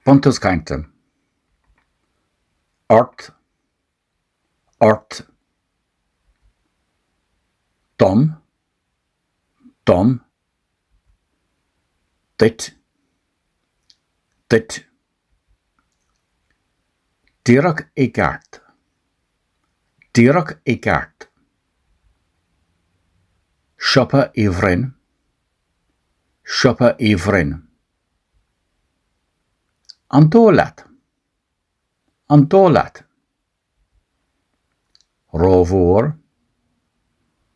Buntús Cainte. ort, ort, dom, dom, duit, duit, díreach i gceart, díreach i gceart, siopa Uí Bhroin, Siopa Uí Bhroin. An dóigh leat? An dóigh leat? Rómhór,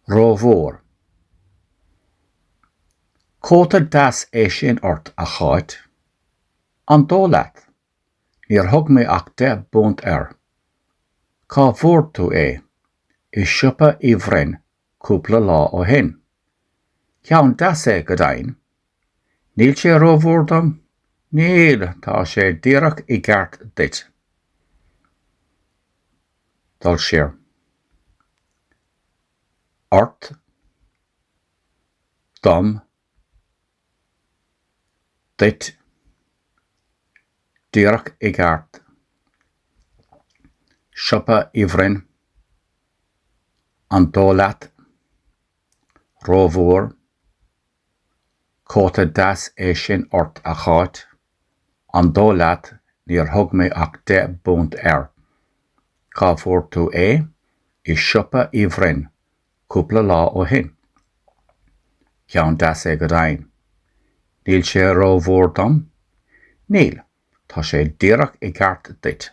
rómhór. Cóta deas é sin ort, a Cháit. An dóigh leat? Níor thug mé ach deich bpunt air. Cá bhfuair tú é? I siopa Uí Bhroin, cúpla lá ó shin. Ceann deas é, go deimhin. Níl sé rómhór dom? Níl, tá sé díreach i gceart duit. Dul siar. Ort. Dom. Duit. Díreach i gceart. Siopa Uí Bhroin. An dóigh leat? Rómhór. Cóta deas é sin ort, a Cháit. An dóigh leat, níor thug mé ach deich bpunt air. Cá bhfuair tú é? I siopa Uí Bhroin, cúpla lá ó shin. Ceann deas é go deimhin. Níl sé rómhór dom? Níl, tá sé díreach i gceart duit.